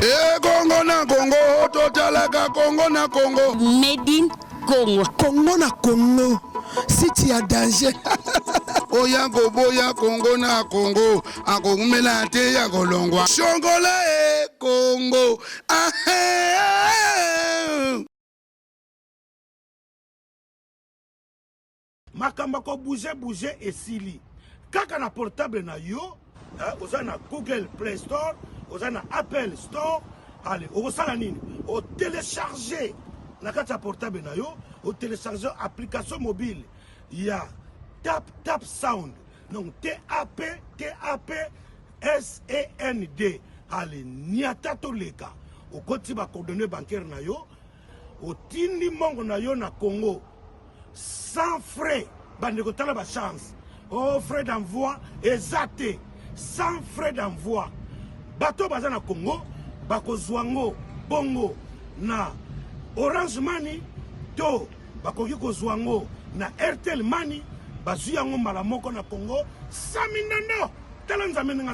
ekongo na kongo totalaka kongo na kongo medin kongo kongo na kongo siti ya danger oya koboya kongo na kongo akoumela te ya kolongwa shongola e kongo ahe makambo ya kobouge bouge esili kaka na portable na yo eh, oza na google play store oza na apple store ale okosala nini otelecharge na kati ya portable na yo otelecharge application mobile ya tap tap sound donc tap tap send ale niata toleka okoti bacoordonne bancaire na yo Otindi mbongo na yo na Congo sans frais bandeko tala ba chance oh frais d'envoi eza te sans frais d'envoi bato baza na Congo bakozwa ngo bongo na Orange Money to bakoki kozwa ngo na Airtel Money bazwi yango mbala moko na Congo sami ndondo tala nzambe ndenge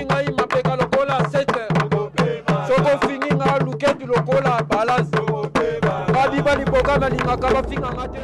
ngai mapeka lokola sete soko fingi nga luketu lokola balance babiba liboka nalingaka bafinga nga te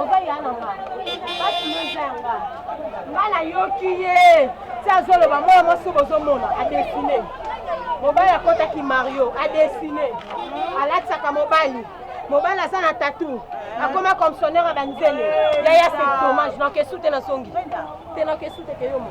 oza ya na nga basi yo eza ya nga nga nayoki ye ti azoloba mwana mwasi oyo bozomona adesine mobali akotaki mario adesine alatisaka mobali mobali aza na tatu akoma commissionnaire ya banzele yaya se dommage na kesu te nasongi te na kesu te keyomo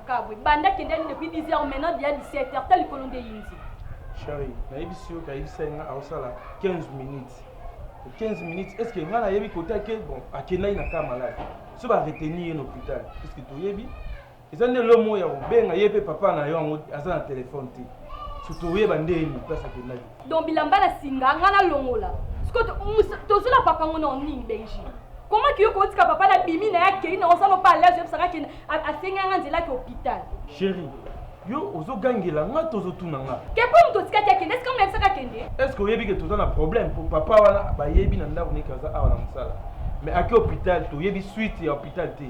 kabwe banda kende nini depuis 10 heures maintenant dia 17 heures ta likolo nde yindi shari nayebisi yo kayebisa ye nga aosala 15 minutes 15 minutes est ce que nga nayebi kota ke bon akendaki na cas malade so baretenir ye na hôpital est ce que toyebi eza nde lomo ya kobenga ye mpe papa na yo yango aza na telefone te so toyeba nde ye moplasi akendaki donc bilamba na singa nga nalongola siko tozwi na papa ngo na nini benji comment kiyo kotika papa na bimi na ya kei na osano pa alaise yebisaka ke asengi yanga nzela ke hôpital chéri yo ozogangela nga tozotuna nga ke mpo moto otikaki akende eske mona yebisaka akende eske oyebi ke toza na problème mpo papa wana bayebi na ndako neke aza awa na mosala mais ake hôpital toyebi suite ya hôpital te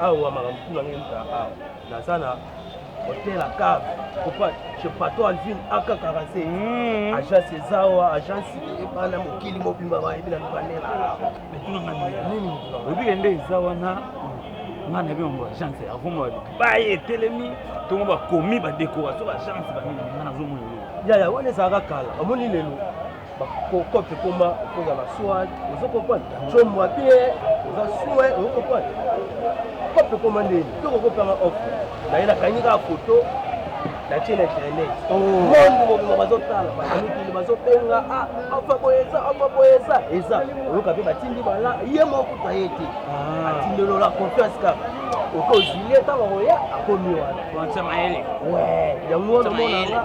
awa makambo tu na ngai ezalaka awa naza na hotel acave kopa chez pato alvin aka 45 hmm. agence ezawa agence ebana mokili mobimba bayebi na lukanela obike nde eza wana ngai nayebi yango agence akomo baye etelemi tongo bakomi badécoration baagence banini ngai nazomona yaya wana ezalaka kala omoni lelo Bakoko te koma okoza na swag ozo comprendre comwa bien oza sue ozo comprendre kope koma ndeni toko kopanga offre naye nakangi kaka foto natie na internet oh. monde mobima bazotala baamikili bazobenga ah, afa boye eza afa boye eza eza oyoka mpe batindi bala ye mokuta ye te ah. atindelola confiance kaka okozwi ye ntango akoya akomi wana yango wana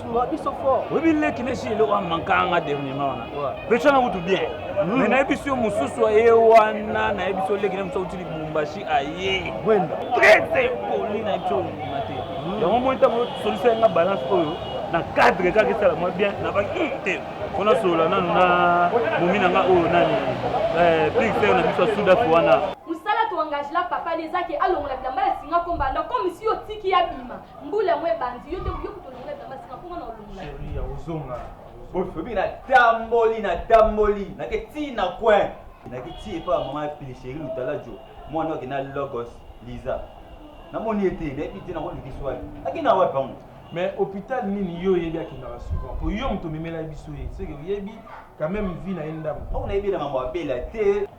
Wa biso fort. Oui bi leki ne shilo wa mankanga dernier maona. Pecha na kutu bien. Mm. Mais na yebiso yo mususu aye wana na yebiso leki ne mususu utili Lubumbashi aye. Wenda. Très impoli na yebiso mate. Mm. Yango mo ntango solution nga balance oyo na cadre kaka esala mwa bien na ba hmm, te. Kona solola nanu na momi na nga oyo nani. Eh, Pix na biso ya Sudafi wana. engage la papa lezaki alongola bilamba ya singa kombanda comme si otiki abima Mbula yango ebandi yo te yo kutu olongola bilamba sika mpo nga na olongola. Chérie ya ozonga. Bobi na tamboli na tamboli na ke ti na coin. Na ke ti epa mama pili chérie lutalajo mwana oke na logos Lisa. Na moni ete na epi te na ko luki swali. Ake na wapi bango? mais hôpital nini yo oyebi akendaka souvent po yo moto omemelaki biso ye seke oyebi quand même vie na ye ndambo awa nayebi na mambo abela te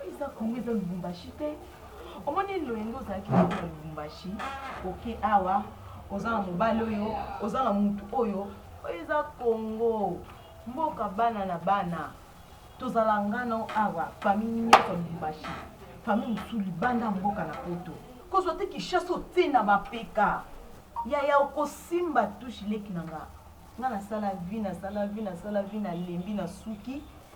Oyo eza Congo eza Lubumbashi te. Omoni loyenge ozalaki na na Lubumbashi, oke awa oza na mobali oyo, oza na mutu oyo. Oyo eza Congo, mboka bana na bana. Tozala nga na yo awa, famille nioso ya Lubumbashi, famille mosusu libanda ya mboka na poto. Kozwa te Kinshasa otie na mapeka. Yaya okosimba touche leki na nga. Nga nasala vie, nasala vie, nasala vie, nalembi, nasuki.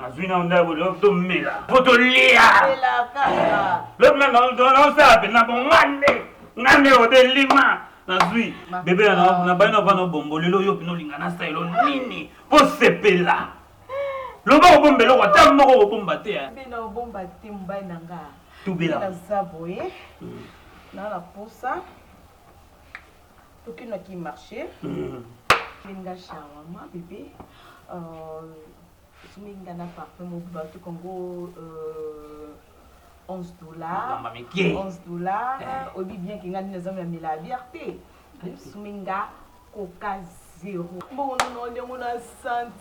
nazwi na ndako lobi tomela po tolia lobi naosala mpenza po nga nde nga nde odelima nazwi bebe nabai na vana obombo lelo yo mpena olinga nasaelo nini posepela loba kobomba eloko ata moko kobomba te tubela naza boye hmm. naa na posa Toki na ki marché. Linga shawarma bébé. Euh, suminga na parfum mobiba tout kongo euh 11 dollars. 11 dollars. Eh. Obi bien kinga nina zamu ya mila bière te. Suminga coca zero. Bongo na ndenge na santi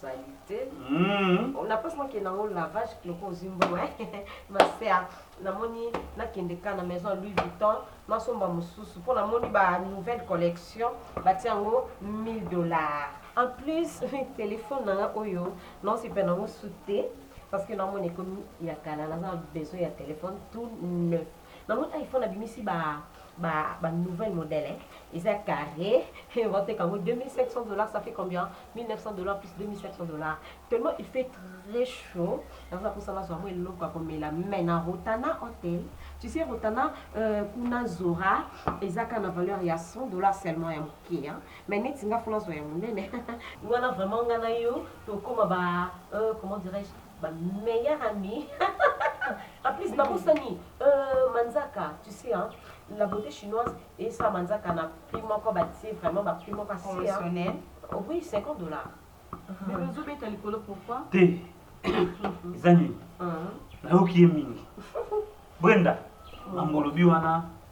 salite mm. on a pas na kenda ngo lavage kloko ozimbo ma sœur namoni nakende ka na maison Louis Vuitton nasomba mosusu mpo namoni ba nouvelle collection batia yango 1000 dollars en plus téléphone nanga oyo naosepa nango su te parce que namoni ekomi ya kala naza na besoin ya téléphone tout neuf Na moni iPhone abimisi ba ba ba nouvelle modèle hein eza carré ba teka ngo 2500 dollars ça fait combien 1900 dollars plus 2500 dollars tellement il fait très chaud naza na posa nazwa mwa eloko ya komela mais na Rotana Hotel tu sais Rotana euh, kuna Zora eza ka na valeur ya 100 dollars seulement ya moke hein mais neti nga fona zwa ya monene wana vraiment nga na yo tokoma ba euh, comment dirais-je Ba meilleur ami en plus ba bosani euh, manzaka tu sais hein, la beauté chinoise et ça manzaka na prix moko ba tie vraiment ba prix moko assez hein. Oh oui 50 dollars. Mais uh-huh. ozo beta likolo pourquoi? Te. Ezani. Uh-huh. Nayoki ye mingi. Brenda, mambo olobi wana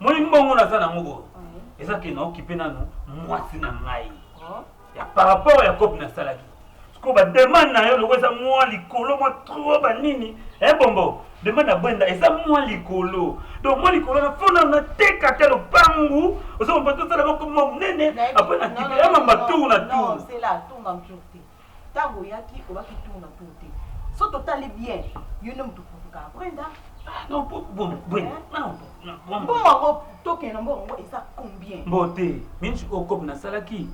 Moni mbongo naza nango bo. Eza ke na okipe nanu mwasi na ngai. Oh. Ya par rapport ya kopi nasalaki. Siko ba demande na yo loko eza mwa likolo mwa trop ba nini. Eh bombo, demande na bwenda eza mwa likolo. Donc mwa likolo na fona na teka te lopangu. Ozo mpa to sala boko monene après na kipe ya mamba tour na tour. Non, c'est là, tour na tour. Tango oyaki obaki tour na tour te soki totali bien yo nde mutu oputukaka après ndambu. Non po bon bon non bon. Mbongo yango tokende na mbongo yango eza combien? Mbote minch oyo kob nasalaki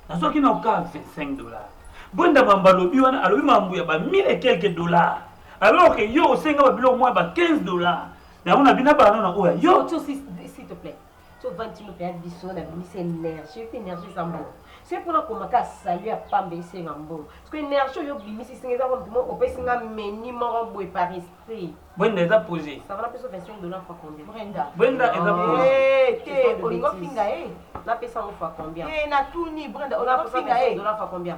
nazwaki na oka 25 dollars bwenda mambo alobi wana alobi mambo ya ba 1000 et quelques dollars alors que yo osenga ba biloko mwa ya ba 15 dollars yango na bina bana na oyo ya yo. Coco s'il te plait to vandi ti moto ya biso na bimisa energie pe energie eza mbongo soki mpona koma ka salu ya pamba esenga mbongo soki energie oyo obimisi esenga eza kompi mo opesi nga meni moko boye par esprit bwenda eza pose sava napesa 25 dollar fa combien brenda bwenda eza pose Eh, te olingo finga e napesa yango fa combien Eh, natuni brenda olingo finga e dollar fa combien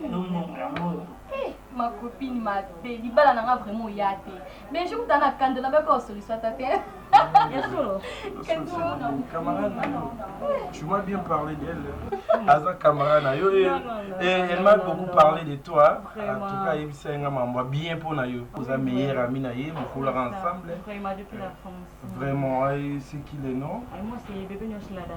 Eh, ma copine mabe libala na nga vraiment oya te mais jour ta na kando na bako solution ata te Tu m'as bien parlé d'elle. Aza camarade na yo et elle m'a beaucoup parlé de toi. En tout cas, yebisa nga mambo bien pour na yo. Oza meilleur ami na ye, bokolaka ensemble. Vraiment depuis la France. Vraiment, c'est qui le nom? Moi c'est bébé Nyoshilada.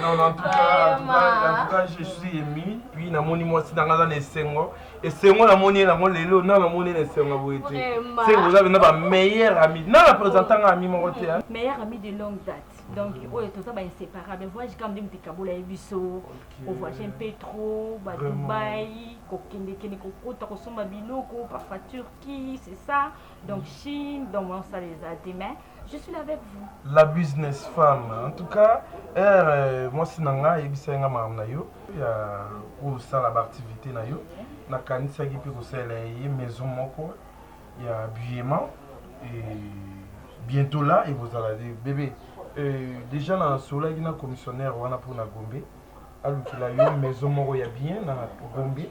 non en tout cas en tout cas je suis ému puis namoni mwasi nanga aza na esengo esengo namoni ye nango lelo na namoni ye na esengo boye te se boza bena ba meilleur ami na na présenta nga ami moko te meilleur ami de longue date donc oyo toza ba inséparable voyage quand même tikabola ye biso kovoyage un peu trop ba dubai kokendekende kokota kosomba biloko parfois turquie c'est ça Donc Chine, dans mon salle demain, je suis là avec vous. La business femme. En tout cas, er, euh, moi si nanga yebisa nga maam na yo ya ko sala ba activité na yo. Na kanisa ki pe ko sala ye maison moko ya habillement et bientôt là et vous allez bébé. Euh, déjà na solaki na commissionnaire wana pour na Gombe. alukela yo maison moko ya bien na gombe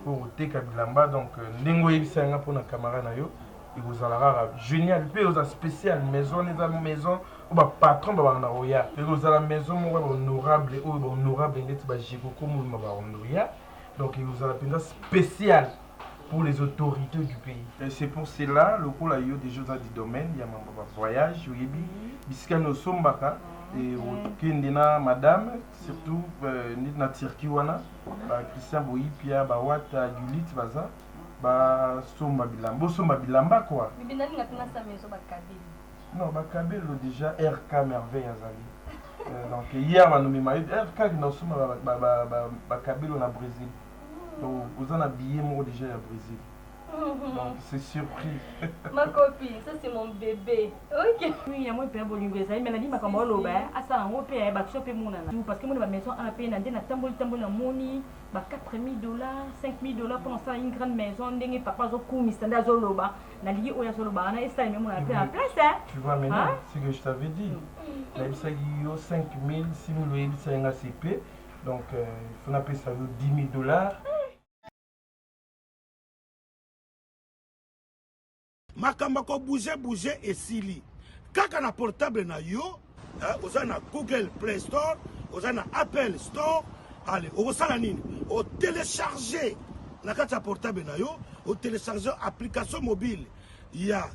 oyo koteka bilamba donc euh, ndenge oyebisa yanga mpo na camara na yo ekozala kaka génial mpe ekozala spécial maison wana eza maison oyo bapatron babanda koya ekozala maison moko ya bahonorable oyo bahonorable ndeti bajekoko moluma bahonoria donc ekozala mpenza spécial pour les autorités du pays. Et c'est pour cela, le coup là, il y a des choses du domaine, il y a un voyage, il y a des choses et okendena madame surtout euh, neti na turquie wana ba christian boyipia bawata gulit baza basomba bilamba bosomba bilamba kua non bakabelo déjà rk merveille azali euh, donc hier banomema yo rk kina osomba bakabelo na brésil donc oza na billet moko déjà ya brésil donc c'est surpris ma copine ça c'est mon bébé ok oui yango mpe ya bolingo ezali me nalingi makambo oloba asala yango mpe ya baction mpe monana parce que moni bamaison a mpe na nde natamboli tamboli namoni ba 4000 dollars 5000 dollars mpo nasala une grande maison ndenge papa azokumisa nde azoloba nalingi oyo azoloba wana esala meme na mpe na place tu vois maintenant ce que je t'avais dit nayebisaki yo 5000 6000 oyebisaki nga c'est pe Donc, euh, il faut appeler ça 10 000 dollars. makambo ko bouge bouge esili kaka na portable na yo hein, oza na google play store oza na apple store ale okosala nini otelecharge na kati ya portable na yo otelecharge application mobile ya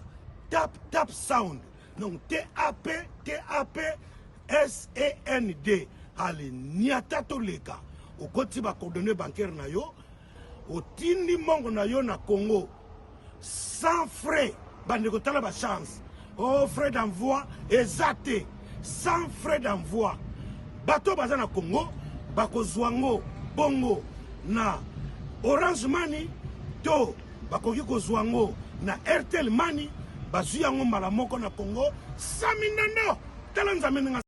tap tap sound Donc TAP, TAP, SEND. Allez, niata to leka. Okoti ba coordonnées bancaires na yo. Otindi mongo na yo na Congo. Sans frais. Bande kotala ba chance. Oh, frais d'envoi. Ezate. Sans frais d'envoi. Bato baza na Congo. Bako zwango. Bongo. Na. Orange Money. To. Bakoki kozua yango na Airtel Money, bazui yango mbala moko na Congo. Sami Ndondo, tala Nzambe ndenge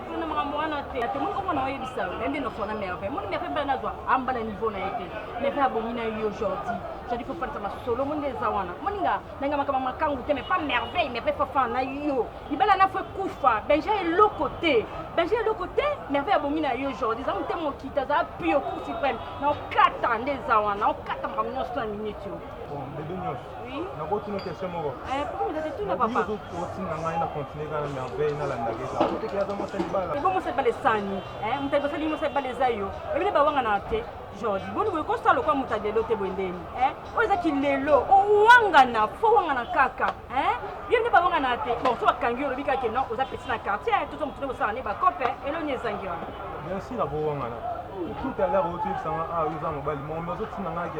na makambo wana te ate moni omona oyebisa yo ende nosona merve moni merve mbala nazwa amba na niveau na ye te merve abongi na yo jordi jordi fo falisa masolo moni eza wana moni nga ndenge makama makangu te mais pas merveille merve fafa na yo libala na fo ekufa benja eloko te benja eloko te merve abongi na yo jordi eza motema okita eza pio cour supreme na okata nde eza wana okata makambo nyonso na minute yo george boni boye kosala lokwa moto ya lelo te boye ndeni eh? oyo eza kilelo owangana fo owangana kaka eh? yo nde bawangana te bon so bakangi olobi kaka non oza peti na quartier eh? tozo motu nde kosala nde bakope eloni ezangi wana bien sûr abowangana tout à l'heure oyo toyebisanga awa oza mobali momi ozotinda ngaki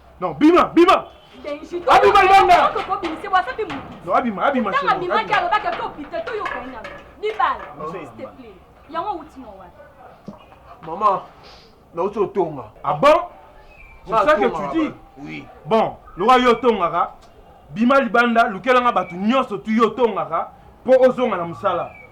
Non, bima, bima. Abima yanga. Non, abima, abima. Tanga bima kia loba kia topite to yo kanya. Bibala, s'il te plaît. Yango uti na wapi? Maman, na uti otonga. Ah bon? C'est ça que tu dis? Oui. Bon, loka yo tongaka. Bima libanda, lukelanga batu nyonso tu yo tongaka po ozonga na musala.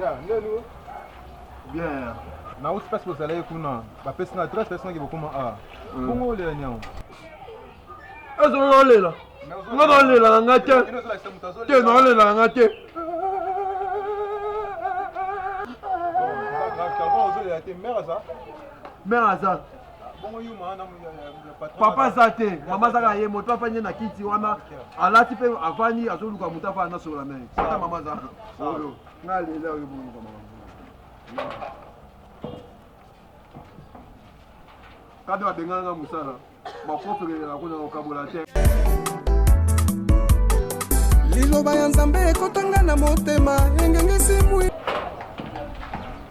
Ya, ndeni wo? Bien. Na usi pasi bozalaki kuna, bapesi na adresse pesi naki bokoma a. Bongo olela nyango. Ezo olela. Nga na olela na nga te. Te na olela na nga te. Mère aza. Mère aza. papa aza te mama aza kaka ye moto mpe afandi na kiti wana alati mpe afandi azoluka moto afandi nasolola naye ata mama aza oyo nga lela oyo boluka mama kade babengana nga mosala makofelelaka kuna kokabola te liloba ya nzambe ekotanga na motema engengisi mwi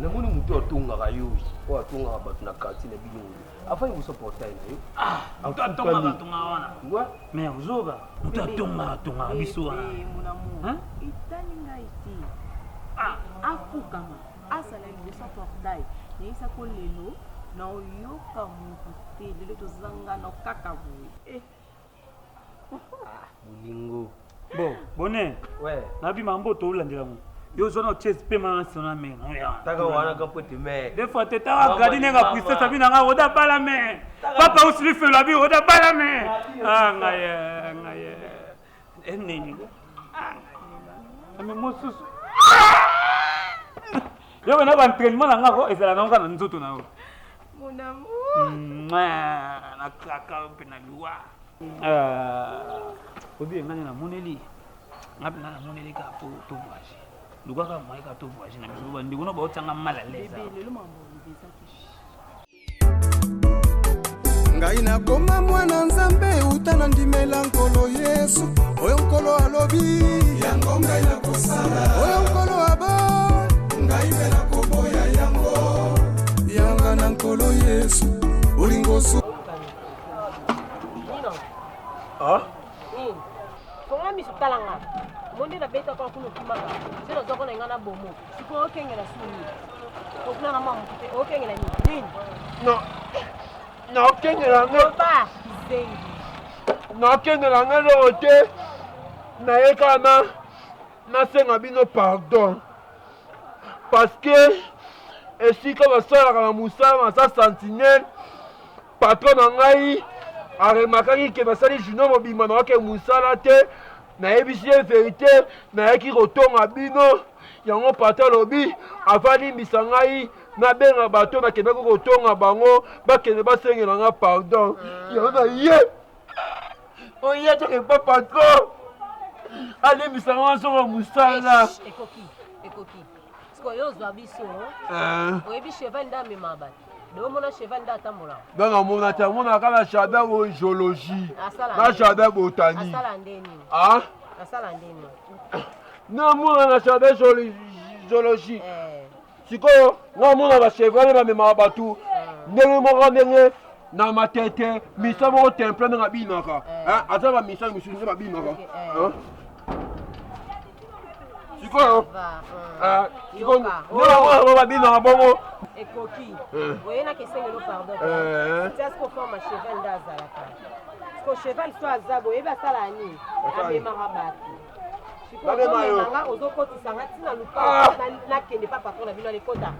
namoni moto atongaka yo oyo atongaka bato na quartier na bino oyo afai kosa portail na yo ah, moto atongaka tongaka wana wa mer zoba moto atongaka tongaka biso wana etali ngai te ah. afukama asala liboso portail nayebisa ko lelo naoyoka moto te lelo tozangana kaka boye eh. bolingo bo bone ouais. nabi mambo tolandela yango yo ozwa na chase mpe mama nsino na mena taka wana ka pwete me de fois te taka gadi nenga puissance abi nanga oda bala me papa usili felo abi oda bala me anga ye anga ye eneni anga ye ame mosusu Yo na ba entraînement na ngako ezala na nga na nzoto na yo. Mon amour. Na kaka pe na loi. Euh, obi ngani na moneli. Ngapi na moneli ka po to voyage. Lugaka moyen ka to voyage na biso ba ndeko na ba otanga mal à l'aise. Bébé, le mambo bébé ça ngai nakoma mwana nzambe uta na ndimela nkolo yesu oyo nkolo alobi yango ngai nakosala oyo nkolo abo ngai mpe nakoboya yango yanga na nkolo yesu olingosu ah? hmm. fongola miso talanga monde nabetaka kuna okimaka se nazwako na ngai na bomo Sikoyo okengela soni. Okulaka mwa motu te, okengela nini? No. Na okengela ngo. Loba kizengi. Na okengela ngo loo te. Na ye kaka na nasenga bino pardon. Parce que esika basalaka na mosala na sa sentinelle Patron na ngai a remarkaki que nasali junior mobimba na wake musala te, nayebisi ye verite, nayaki kotonga bino yango patron alobi avalimbisa ngai nabenga bato nakendaki kotonga bango bakende basengela nga pardon yango na ye oye toke pa patron alimbisa nga nazonga mosala ekoki ekoki sikoyo ozwa biso oyebi cheval nde amema bato nga namona te amona kaka na jardin oyo geologie na jardin botanique namona na jardin geologie eh. sikoyo namona bachevale bamemaka bato eh. ndenge moko ndenge na matete misa moko temple ndenge abinaka eh. aza bamisa misusu nde babinaka sikoyo ah, babino na bongo ekoki eh. oye na kesengelo pardon eh. tiasiko forma cheval nde azalaka ko cheval so aza boyebi asala nini amemaka bato sikoyoanga ozokotisa nga ntina lupa ah. nakende pa patron na bino alekota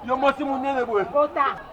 yo mwasi monene boye kota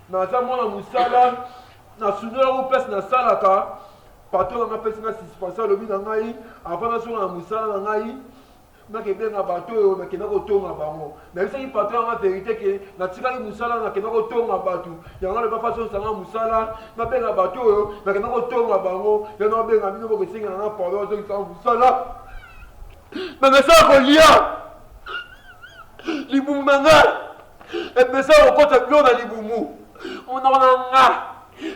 Naza mwana musala na sundola ngo place na salaka patron na nga apesi nga suspension alobi na ngai avant nazonga na musala na ngai nake benga bato oyo nakenda kotonga bango nayebisaki patron yanga verite ke natikaki musala nakenda kotonga bato yango alobi afasonisa nga musala nabenga bato oyo nakenda kotonga bango yano abenga bino bokesengela na pardon azongisa nga musala na nasala kolia libumu na ngai Epesa yo kokota bino na libumu. Monoko na nga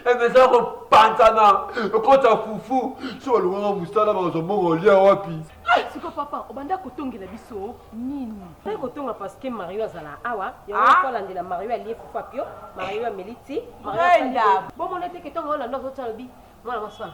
epesa kopanzana kokota fufu. So balongaka mosala bakozwa mbongo olia wapi? Ah, siko papa obanda kotongela biso nini? Oye kotonga parce que Mario azala awa yango ah. kolandela Mario alie fufu apio Mario ameli ti Mario bomona te ke ntongo wana ndo azotya lobi mwana mwasi wana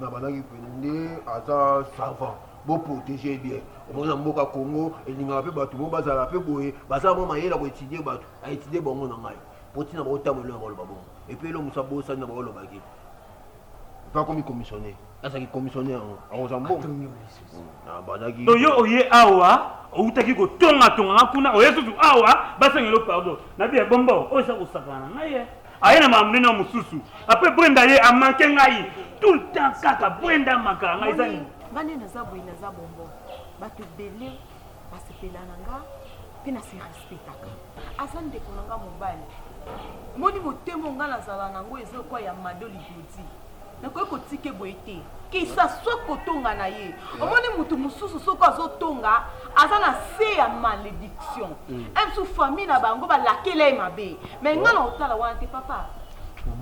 na banaki pene nde aza savant bo protéger bien omona mboka congo elingaka mpe bato mo bazala mpe boye baza mwa mayele ya koetudie bato aetudie bango na ngai mpo ntina baotambo elonga baloba bongo epuis elo mosa bosani na baolobaki mpe akomi commissionnaire azalaki commissionnaire yango akozala mbongo abandaki to yo oye awa outaki kotongatongaka kuna oye susu awa basengelo pardon nabi ya bombo oyo eza kosakana na ngai aye na makambo nini mosusu apres brenda ye amanke ngai tout le temps kaka brenda amankaa ngai eza nini nga nde naza boye naza bongo bato ebele basepela na nga mpe na se respectaka aza ndeko na nga mobali moni motema nga nazala na yango eza okwa ya mado ligodi nakoki kotike boye te kisa swa kotonga na ye omoni motu mosusu soko azotonga aza na se ya malédiction mm. msu famille na bango balakela ye mabe mai ngai na otala wana te papa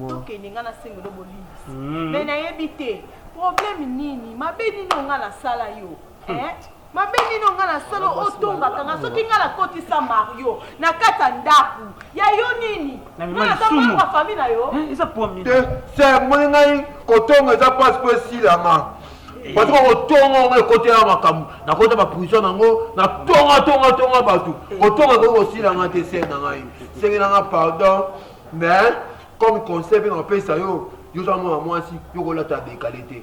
tokende ngai nasengelo bolimbisi mai mm. nayebi te problème nini mabe nini onga nasala yo eh? Mabe nini onga na solo otombaka nga soki nga na kotisa Mario na kati ya ndaku ya yo nini nga naza mwana ya famille na yo eh, eza pomi te se moni ngai kotonga eza pasi po esilama bato bakotonga yango ekotela makambo nakota baprison yango natonga tonga tonga bato kotonga ekoki kosila nga te se na ngai senge na nga pardon mais comme conseil mpe nakopesa yo yo oza mwana mwasi yo kolata dekale te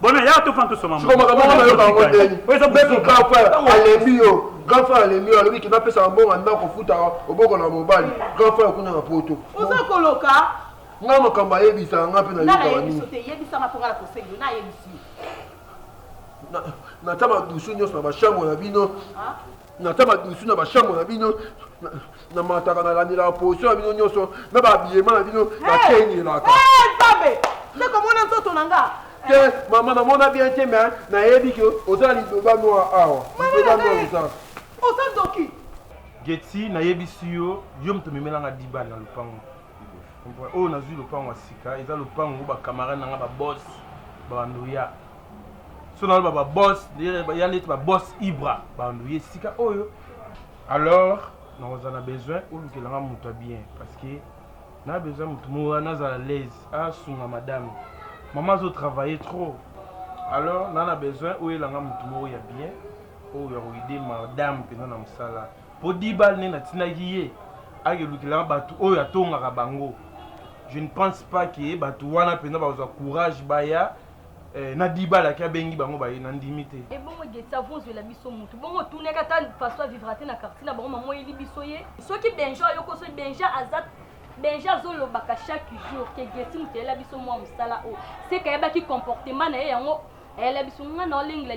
Bona ya tofana tosoma siko makambo wana nayoka yango ndeni meme grand frère alembi yo grand frère alembi yo alobi keba apesaka mbongo anda kofuta oboko na mobali grand frère kuna na poto oza koloka nga makambo ayebisaka nga mpe nayebisanayebisanaakosengonayebisinatya madusu nyonso na bashambre na bino ah. Natia madusu na ba chambre na bino, na mataka na landelaka position na bino nyonso, na ba habillement na bino na kenielaka. Hey, Nzambe! Nde komona nzoto na nga. Te mama na mona bien te mais nayebi ke oza na lidoba noir awa. Lidoba noir oza. Oza ndoki. Getsi nayebisi yo, yo moto omemela nga diba na lopango. Oyo nazwi lopango ya sika eza lopango ba camarade na nga ba boss ba ndoya. so naloba ba boss ya neti ba boss ibra bandu ye sika oyo alors nakoza na besoin olukela nga moto ya bien parce que na besoin moto moa nazala laise asunga madame mama azo travailler trop alors na na besoin oyela nga moto moko ya bien oyo akoide madame mpenza na mosala mpo dibal nde natindaki ye akelukela nga bato oyo atongaka bango je ne pense pas ke bato wana mpenza bakozwa courage baya Eh, na dibala ki abengi bango baye na ndimi te ebongo eh, geti avonzwela biso motu bongo otunaki ata faso avivra te na quartier na bango mama oyeli biso ye soki benja oyoko soki benja aza benja azolobaka chaque jour ke geti moto ayela biso mwa mosala oyo seka ayebaki comportement na ye yango ayela biso nga na olengela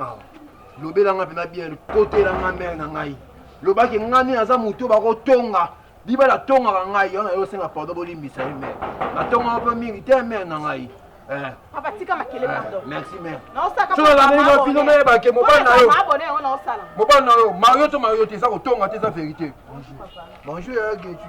ah, lobela nga mpena bien kotela nga mere na ngai lobaki nga nini aza moto bakotonga biba natongaka ngai wana yo osenga pardon bolimbisa ye mere natongaka mpe mingi te mere na ngai eh. abatika ah, makele eh, pardon merci mere solalangeli bapino mere bake mobali na yo mobali na yo mario to mario te eza kotonga te eza verité bonjour ya getu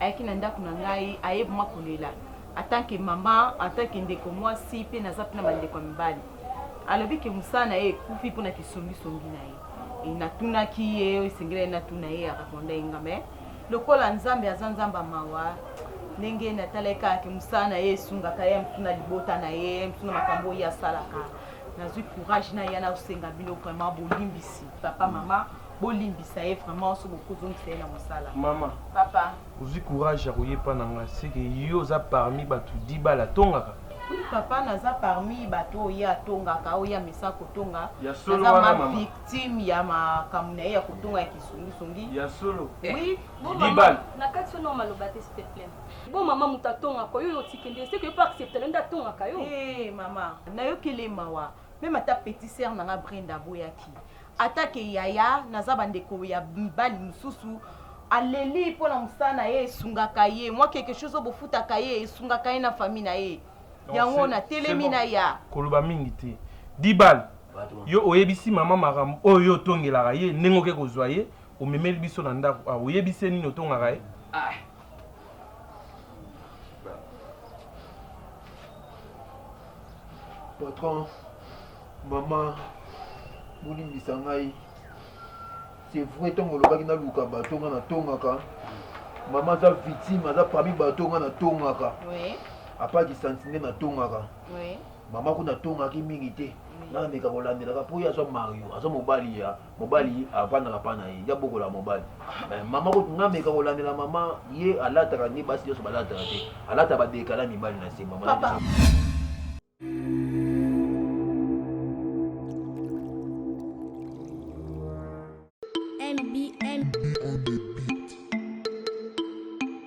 ayaki na ndako na ngai aye vraimen kolela atant que mama atant que ndeko mwasi mpe naza mpe na bandeko ya mibali alobi ke mosala na ye ekufi mpo na kisongisongi na ye e, natunaki ye esengeli ye natuna ye araponda ye nga me lokola nzambe aza nzambe ya mawa ndenge natalaki kaka ke mosala na ye esungaka ye mtu na libota na ye mtu na makambo oyo asalaka nazwi courage na ya nakosenga bino vraiment bolimbisi papa mama mm -hmm. bolimbisa ye vraiment soki bokozongisa ye na mosala mama papa ozwi courage ya koye epa na ngai seke yo oza parmi bato dibala atongaka papa naza parmi bato oyo ye atongaka oyo ye amesa kotonga naza ma victime ya makambo na ye ya kotonga ya kisungisongi ya solo oui dibala na kati wana maloba te s'il te plaît bo mama moto atongaka oyo otikende seke yo mpe accepte na nde atongaka yo eh mama nayoki ele mawa meme ata petit sere na ngai brenda aboyaki ata ke yaya naza bandeko ya mibali mosusu aleli mpo na mosala na ye esungaka ye mwa quelque chose oyo bofutaka ye esungaka ye na famille na ye Donc, yango c'est- na c'est telemi bon. na ya koloba mingi te dibal yo oyebisi mama makambo oyo yo otongelaka ye ndenge oke kozwa ye omemeli biso na ndako awa oyebisi ye nini otongaka ye patron mama bolimbisa ngai c'est vrai ntango olobaki naluka bato nga natongaka mama aza victime aza parmi bato nga natongaka apart kisanti nde natongaka mama kuna atongaki mingi te nameka kolandelaka mpo ye aza mario aza mobali ya mobali avandaka pa na ye ya bokola mobali eh, mama nameka kolandela mama ye alataka nde basi nyonso balataka te alata badekala mibali na se mama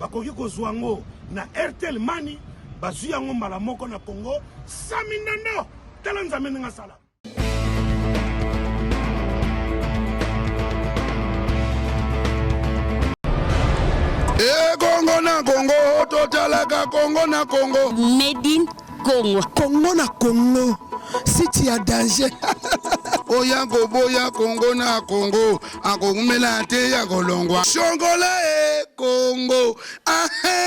Bakoki kozua yango na Airtel Money, bazui yango mbala moko na Congo. Sami Ndondo, tala Nzambe ndenge asala. E Congo na Congo, totalaka Congo na Congo. Made in Congo. Congo na Congo, site ya danger. Oya koboya Congo na Congo. akoumela te ya kolongwa shongola e kongo ahe